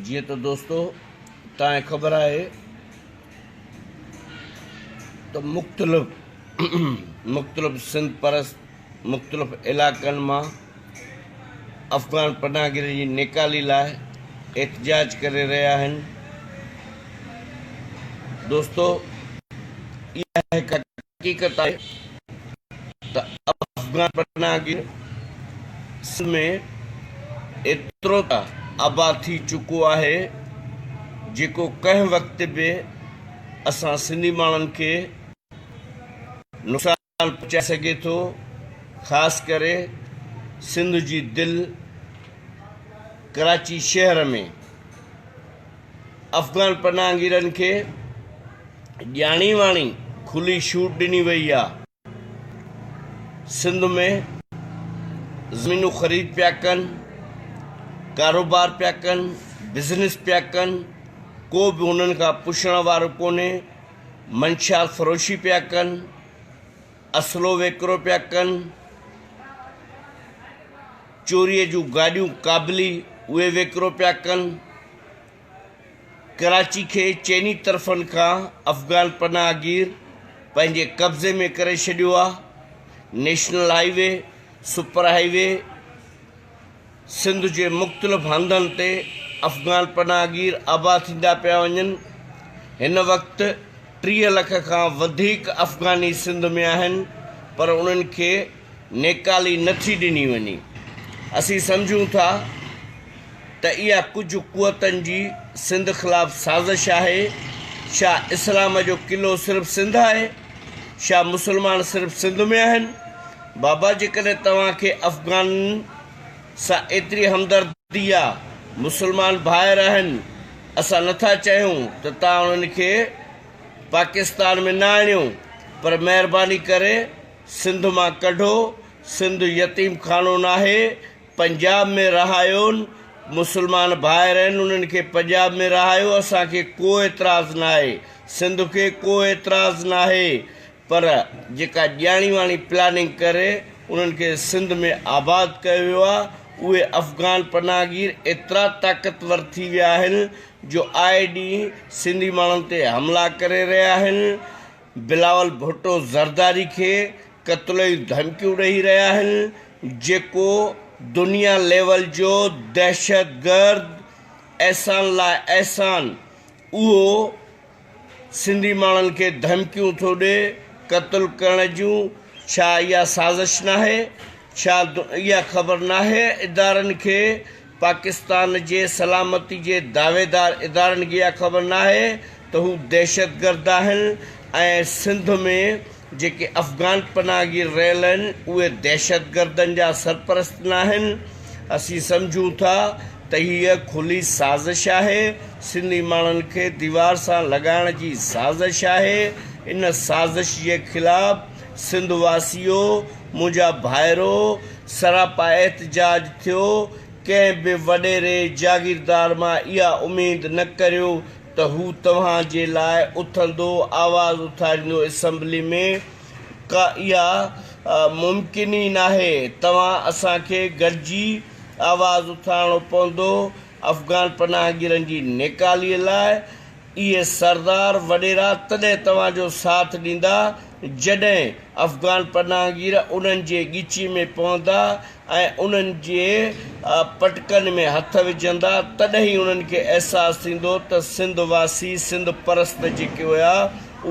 جيئن ته دوستو تانکي خبر آهي ته مختلف مختلف سنڌ پرست مختلف علائقن مان افغان پناهه گيرن جي نيڪالي لاء احتجاج ڪري رهيا آهن دوستو اها هڪ حقيقت آهي ته افغان پناهگير سنڌ ۾ ايترو ته آباد ٿي چڪو آهي جيڪو ڪنهن وقت به اسان سنڌي ماڻهن کي نقصان پهچائي سگهي ٿو خاص ڪري سنڌ جي دل ڪراچي شهر ۾ افغان پناهگيرن کي ڄاڻي واڻي کلي شوٽ ڏني وئي آ سنڌ ۾ زمينون خريد پيا ڪن ڪاروبار پيا ڪن بزنس پيا ڪن ڪو به هنن کان پڇڻ وارو ڪونهي منشيات فروشي پيا ڪن اسلو ويڪرو پيا ڪن چوريء جون گاڏيون ڪابلي اهي ويڪرو پيا ڪن. ڪراچي کي چئني طرفن کان افغان پناهه گير پنهنجي قبضي ۾ ڪري ڇڏيو آ. National highway, super highway, Sindh جي مختلف هنڌن تي افغان پناهه گير آباد ٿيندا پيا وڃن. هن وقت ٽيهه لک کان وڌيڪ افغاني سنڌ ۾ آهن پر انهن کي نيڪالي نه ٿي ڏني وڃي. اسين سمجهون ٿا ته اها ڪجهه قوتن جي سنڌ خلاف سازش آهي. ڇا اسلام جو قلعو صرف سنڌ آهي؟ ڇا مسلمان صرف سنڌ ۾ آهن؟ بابا جيڪڏهن توهان کي افغانن سان ايتري همدردي آ، مسلمان ڀائر آهن، اسان نه ٿا چاهيون ته توهان انهن کي پاڪستان ۾ نه آڻيو پر مهرباني ڪري سنڌ مان ڪڍو سنڌ يتيم خانو ناهي پنجاب ۾ رهايون مسلمان ڀائر آهن انهن کي پنجاب ۾ رهايو اسان کي ڪو اعتراض ناهي سنڌ کي ڪو اعتراض ناهي پر جيڪا ڄاڻي واڻي پلاننگ ڪري انهن کي سنڌ ۾ آباد ڪيو ويو آهي اهي افغان پناهگير ايترا طاقتور ٿي ويا آهن جو آئي ڏينهن سنڌي ماڻهن تي حملا ڪري رهيا آهن بلاول ڀٽو زرداري کي قتل جون ڌمڪيون ڏئي رهيا آهن جيڪو دنيا ليول جو دهشتگرد احسان لاء احسان اهو سنڌي ماڻهن کي ڌمڪيون ٿو ڏي قتل ڪرڻ جون ڇا اها سازش ناهي ڇا اها خبر ناهي ادارن کي پاڪستان جي سلامتي جي دعويدار ادارن کي اها خبر ناهي ته هو دهشتگرد آهن ۽ سنڌ ۾ جيڪي افغان پناهگير رهيل آهن اهي دهشتگردن جا سرپرست ناهن، اسين سمجهون ٿا ته هيء کلي سازش آهي، سنڌي ماڻهن کي ديوار سان لڳائڻ جي سازش آهي، ان سازش جي خلاف سنڌ واسيو، منهنجا ڀائرو، سراپا احتجاج ٿيو، ڪنهن به وڏيري جاگيردار مان اها اميد نه ڪريو ته هو توهان جي لاء اٿندو، آواز اٿاريندو اسمبلي ۾، ڪا اها ممڪن ئي ناهي، توهان اسان کي گڏجي آواز اٿارڻو پوندو افغان پناهگيرن جي نيڪالي لاء، اهي سردار وڏيرا تڏهن توهان جو ساٿ ڏيندا جڏهن افغان پناهگير انهن جي ڳچي ۾ پوندا ۽ انهن جي پٽڪن ۾ هٿ وجهندا تڏهن ئي انهن کي احساس ٿيندو ته سنڌ واسي سنڌ پرست جيڪي هيا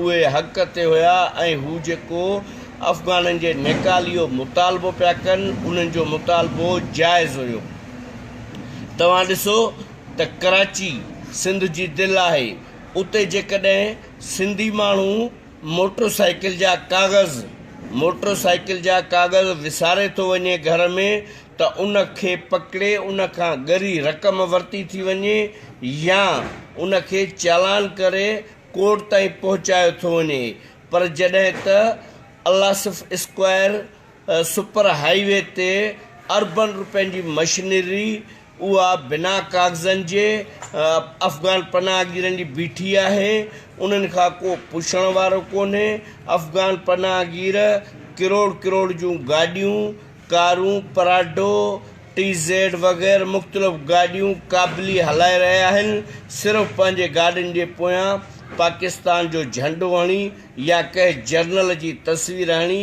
اهي حق تي هيا ۽ هو جيڪو افغانن جي نيڪاليو مطالبو پيا ڪن انهن جو مطالبو جائز هيو توهان ڏسو ته ڪراچي سنڌ جي دل آهي، اتي جيڪڏهن سنڌي ماڻهو موٽر سائيڪل جا ڪاغذ موٽر سائيڪل جا ڪاغذ وساري ٿو وڃي گهر ۾ ته ان کي پڪڙي ان کان ڳري رقم ورتي ٿي وڃي يا ان کي چالان ڪري ڪورٽ تائين پهچايو ٿو وڃي پر جڏهن ته Al-Asif Square super highway تي اربن رپين جي مشنري اها بنا ڪاغذن جي افغان پناهگيرن جي بيٺي آهي، انهن کان ڪو پڇڻ وارو ڪونهي، افغان پناهگير ڪروڙ ڪروڙ جون گاڏيون، ڪارون، پراڊو، ٽي زيڊ وغير مختلف گاڏيون ڪابلي هلائي رهيا آهن، صرف پنهنجي گاڏين جي پويان پاڪستان جو جهنڊو هڻي يا ڪنهن جرنل جي تصوير هڻي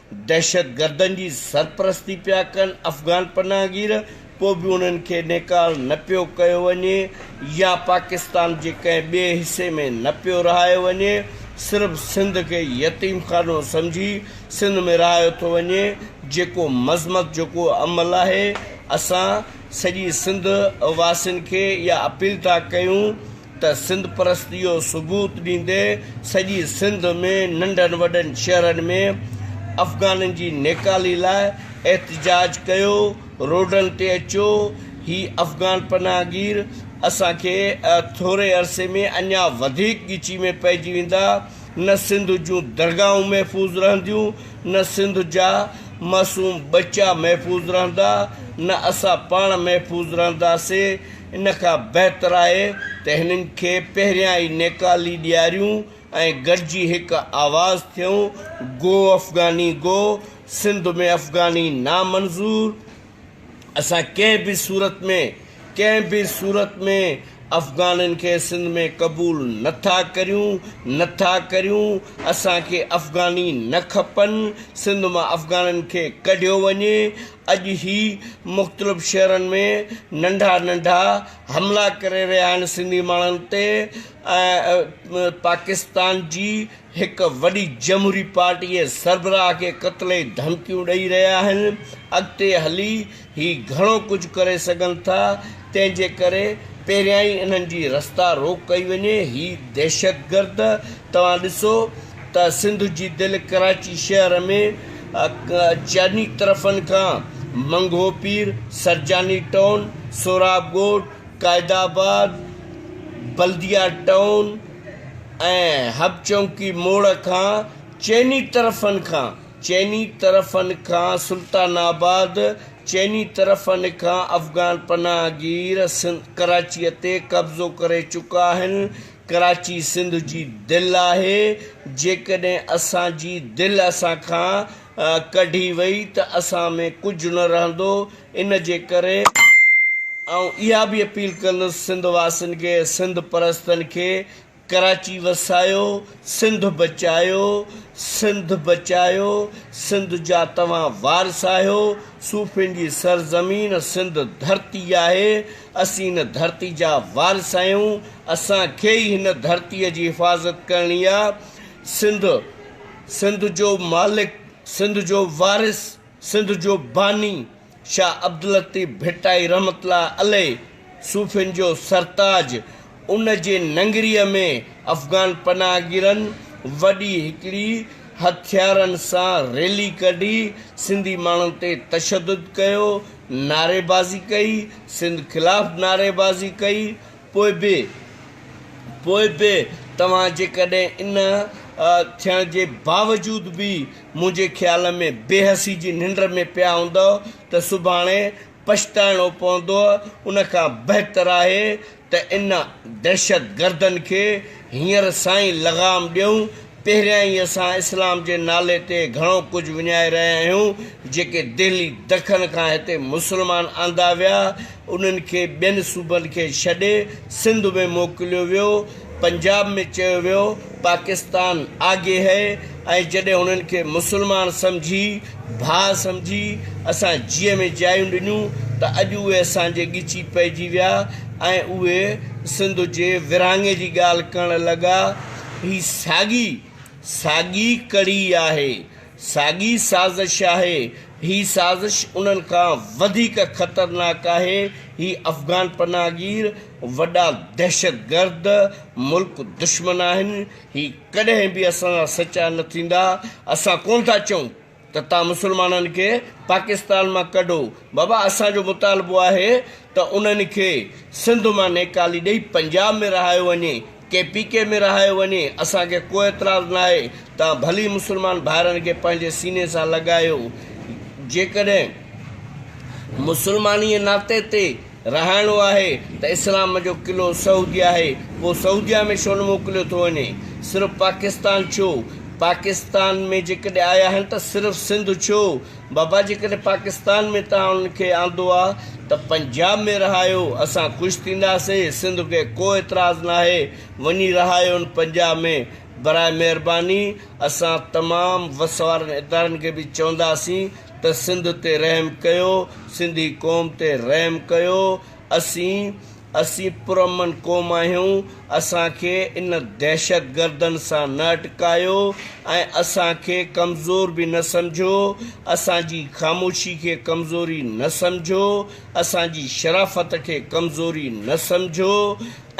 دهشتگردن جي سرپرستي پيا ڪن، افغان پناهگير، پوء به انهن کي نيڪال نه پيو ڪيو وڃي يا پاڪستان جي ڪنهن ٻئي حصي ۾ نه پيو رهايو وڃي، صرف سنڌ کي يتيم خانو سمجهي سنڌ ۾ رهايو ٿو وڃي، جيڪو مذمت جوڳو عمل آهي، اسان سڄي سنڌ واسين کي اها اپيل ٿا ڪيون ته سنڌ پرستي جو ثبوت ڏيندي سڄي سنڌ ۾ ننڍن وڏن شهرن ۾ افغانن جي نيڪالي لاء احتجاج ڪيو، روڊن تي اچو، هي افغان پناهگير اسان کي ٿوري عرصي ۾ اڃا وڌيڪ ڳچي ۾ پئجي ويندا، نه سنڌ جون درگاهون محفوظ رهنديون، نه سنڌ جا معصوم ٻچا محفوظ رهندا، نه اسان پاڻ محفوظ رهنداسين. ان کان بهتر آهي ته هنن کي پهريان ئي نيڪالي ڏياريون ۽ گڏجي هڪ آواز ٿيون، گو افغاني گو، سنڌ ۾ افغاني نامنظور، اسان ڪنهن به صورت ۾ ڪنهن به صورت ۾ افغانن کي سنڌ ۾ قبول نه ٿا ڪريون نه ٿا ڪريون، اسان کي افغاني نه کپن، سنڌ مان افغانن کي ڪڍيو وڃي، اڄ هي مختلف شهرن ۾ ننڍا ننڍا حملا ڪري رهيا آهن سنڌي ماڻهن تي ۽ پاڪستان جي هڪ وڏي جمهوري پارٽي جي سربراهه کي قتل جي ڌمڪيون ڏئي رهيا آهن اڳتي هلي هي گهڻو ڪجهه ڪري سگهن ٿا تنهن جي ڪري پهريائين انهن جي رستا روڪ ڪئي وڃي هي دهشتگرد توهان ڏسو ته سنڌ جي دل ڪراچي شهر ۾ چئني طرفن کان منگهو پير، سرجاني ٽائون، سهراب ڳوٺ، قائد آباد، بلديه ٽائون ۽ حب چونڪي موڙ کان چئني طرفن کان چئني طرفن کان سلطان آباد چئني طرفن کان افغان پناهگير ڪراچيء تي قبضو ڪري چڪا آهن. ڪراچي سنڌ جي دل آهي، جيڪڏهن اسان جي دل اسان کان ڪڍي وئي ته اسان ۾ ڪجهه نه رهندو، ان جي ڪري آئون اها به اپيل ڪندس سنڌ واسين کي، سنڌ پرستن کي ڪراچي وسايو، سنڌ بچايو، سنڌ بچايو، سنڌ جا توهان وارث آهيو، صوفين جي سرزمين سنڌ ڌرتي آهي، اسين ان ڌرتي جا وارث آهيون، اسان کي ئي هن ڌرتيء جي حفاظت ڪرڻي آ سنڌ سنڌ جو مالڪ سنڌ جو وارث سنڌ جو باني شاهه عبداللطيف ڀٽائي رحمت الله عليه صوفين جو سرتاج ان جي ننگريء ۾ افغان پناهگيرن وڏي هڪڙي هٿيارن سان ريلي ڪڍي سنڌي ماڻهن تي تشدد ڪيو نعريبازي ڪئي سنڌ خلاف نعريبازي ڪئي پوء به، پوء به توهان جيڪڏهن ان ٿيڻ جي باوجود به منهنجي خيال ۾ بي حسي جي ننڊ ۾ پيا هوندؤ ته سڀاڻي پڇتائڻو پوندؤ، ان کان بهتر آهي ته ان دهشتگردن کي هينئر سان ئي لغام ڏيون، پهريائين اسان اسلام جي نالي تي گهڻو ڪجهه وڃائي رهيا آهيون، جيڪي دهلي دکن کان هتي مسلمان آندا ويا، انهن کي ٻين صوبن کي ڇڏي سنڌ ۾ موڪليو ويو، پنجاب ۾ چيو ويو پاڪستان آگي هي ۽ جڏهن انهن کي مسلمان سمجهي، ڀاء سمجهي اسان جيء ۾ جايون ڏنيون ته اڄ اهي اسان جي ڳچي پئجي ويا ۽ اهي سنڌ جي ورهاڱي جي ڳالهه ڪرڻ لڳا. هي ساڳي ساڳي ڪڙي آهي، ساڳي سازش آهي، هي سازش انهن کان وڌيڪ خطرناڪ آهي، هي افغان پناهگير وڏا دهشتگرد ملڪ دشمن آهن، هي ڪڏهن به اسان سان سچا نه ٿيندا، اسان ڪونه ٿا چئون ته تان مسلمانن کي پاڪستان مان ڪڍو بابا اسان جو مطالبو آهي ته انهن کي سنڌ مان نيڪالي ڏئي پنجاب ۾ رهايو وڃي ڪي پي ڪي ۾ رهايو وڃي اسان کي ڪو اعتراض ناهي تان ڀلي مسلمان ڀائرن کي پنهنجي سيني سان لڳايو جيڪڏهن مسلماني ناتي تي رهائڻو آهي ته اسلام جو قلعو سعوديه آهي پوء سعوديه ۾ ڇو نه موڪليو ٿو وڃي صرف پاڪستان ڇو پاڪستان ۾ جيڪڏهن آيا آهن ته صرف سنڌ ڇو بابا جيڪڏهن پاڪستان ۾ توهان انهن کي آندو آ ته پنجاب ۾ رهايو اسان خوش ٿينداسي سنڌ کي ڪو اعتراض ناهي وڃي رهايون پنجاب ۾ براء مهرباني اسان تمام وس وارن ادارن کي به چونداسين ته سنڌ تي رحم ڪيو سنڌي قوم تي رحم ڪيو اسين اسين پرامن قوم آهيون اسان کي ان دهشت گردن سان نه اٽڪايو ۽ اسان کي ڪمزور به نه سمجهو اسان جي خاموشي کي ڪمزوري نه سمجهو اسان جي شرافت کي ڪمزوري نه سمجهو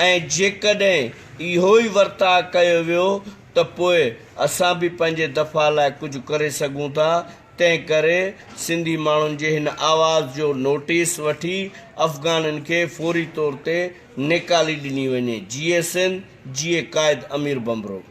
۽ جيڪڏهن اهو ئي ورتاء ڪيو ويو ته پوء اسان به پنهنجي دفاع لاء ڪجهه ڪري سگهون ٿا، تنهن ڪري سنڌي ماڻهن جي هن آواز جو نوٽيس وٺي افغانين کي فوري طور تي نيڪالي ڏني وڃي. جيئي سنڌ، جيئي قائد امير ڀنڀرو.